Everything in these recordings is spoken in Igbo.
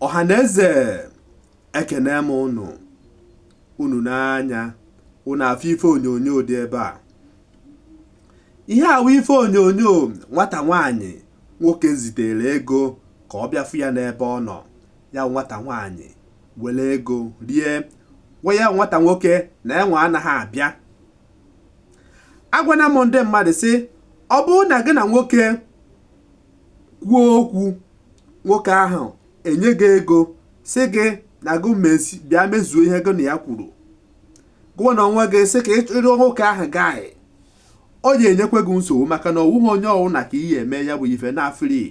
ọha na eze ekene m unu unu nee anya unu afụ ife onyonyo dị ebe a ihe a wụ ife onyonyo nwata nwaanyị nwoke zitere ego ka ọ bịa fụ ya n'ebe ọ nọ ya nwata nwaanyị were ego rie gwa ya nwata nwoke na onwe ya anaghị abịa agwana m ndị mmadụ sị ọ bụrụ na gị na nwoke kwuo okwu nwoke ahụ enye gị ego sị gị na gị bịa mezuo ihe gị na ya kwuru gụnwa na onwe gị sị ka ịchụrụ nwoke ahụ guy ọ ga-enyekwa gị nsogbu maka na ọ wụghị onye ọwụna ka ị ya-eme ya bụ ife naa free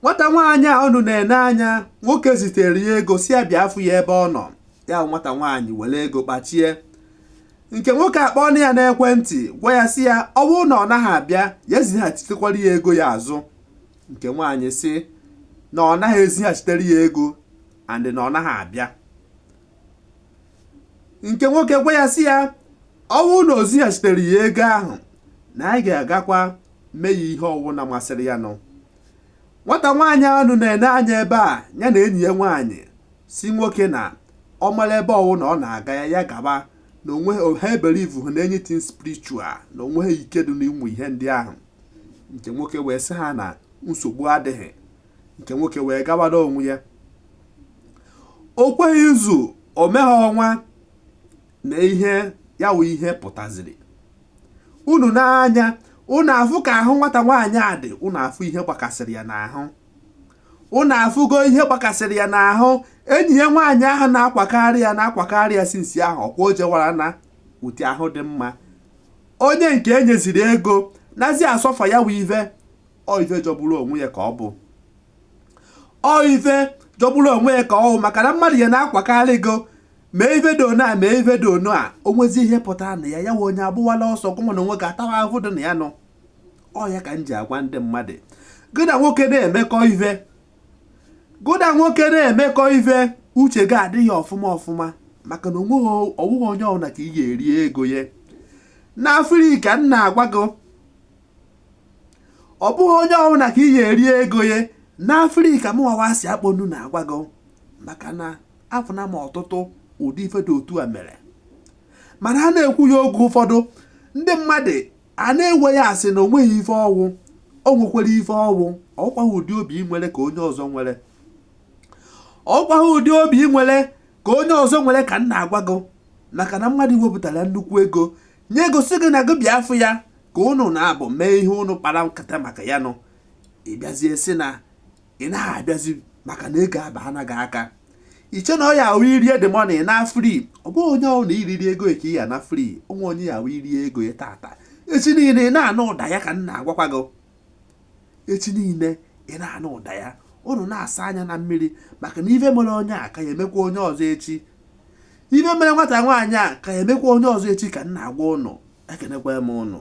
nwata nwaanyị a unu na-ene anya nwoke zitere ya ego sị ya bịa afụ ya ebe ọ nọ ya nwata nwaanyị were ego kpachie nke nwoke akpọọnụ ya n'ekwentị gwa ya sị ya ọ bụrụ na ọ naghị abịa ya ezighachitekwara ya ego ya azụ nke nwaanyị sị na ọ naghị ezighachitere ya ego and na ọ naghị abịa nke nwoke gwa ya sị ya ọ bụrụ na o zighachitere ya ego ahụ na anyị ga-agakwa mee ya ihe ọwụna masịrị yanụ Nwata nwaanyị a unu na-ene anya ebe a ya na enyi ya nwaanyị sị nwoke na ọ mara ebe ọwụna ọ na-aga ya ya gaba na onwe ha ebelieveghị na anything spiritual na o nweghị ike dị n'ụmụ ihe ndị ahụ nke nwoke wee sị ha na nsogbu adịghị nke nwoke wee gabara onwe ya o kweghị izu o meghị ọnwa na ihe ya wụ ihe pụtaziri unu nee anya unu afụ ka ahụ nwata nwaanyị a dị unu afụ ihe gbakasịrị ya n'ahụ unu afụgo ihe gbakasịrị ya n'ahụ enyi ya nwaanyị ahụ na-akwakarị ya na-akwakarị ya since ahụ ọkwa o jewara na ụdị ahụ dị mma onye nke enyeziri ego nazi asuffer ya wụ ive ọ ive jọgburu onwe ya ka ọ bụ ọ ive jọgburu onwe ya ka ọ bụ maka na mmadụ ya na-akwakarị gị mee ife dị ono a mee ife dị ono a o nwezi ihe pụtara na ya ya wụ onye agbawala ọsọ gụnwa na onwe gị atawa ahụhụ dị na yanụ ọ ya ka m ji agwa ndị mmadụ gị na nwoke na-emekọ ife gị na nwoke na-emekọ ife uche gị adị ya ọfụma ọfụma maka na ọ wụghị onye ọbụla ka ị ga-eri ego ya naa free ka m na-agwa gị ọ bụghị onye ọbụla ka ị ga-eri ego ya naa free ka m wawasị ọnụ na-agwa gị maka na afụna m ọtụtụ ụdị ife dị otu a mere mana a na-ekwu ya oge ụfọdụ ndị mmadụ a na-ewe ya a sị na o nweghị ife ọ wụ o nwekwara ife ọ wụ ọkwaghị ụdị obi ị nwere ka onye ọzọ nwere ọkwaghị ụdị obi ị nwere ka onye ọzọ nwere ka m na-agwa gị maka na mmadụ wepụtara nnukwu ego nye ego sị gị na gị bịa afụ ya ka ụnụ naabọ mee ihe ụnụ kpara nkata maka ya nọ ị bịazie sị na ị naghị abịazi maka na ego abana gị aka i che na ọ ya-awụ i rie the money naa free ọ bụghị onye ọbụna i riri ego ka ị ya-ana free o nwee onye ya-awụ i rie ego ya tata echi niile ị na-anụ ụda ya ka m na-agwakwa gị echi niile ị na-anụ ụda ya ụnụ na-asa anya na mmiri maka na ife mere onye a ka ya-emekwa onye ọzọ echi ife mere nwata nwaanyị a ka ya-emekwa onye ọzọ echi ka m na-agwa ụnụ ekenekwa m ụnụ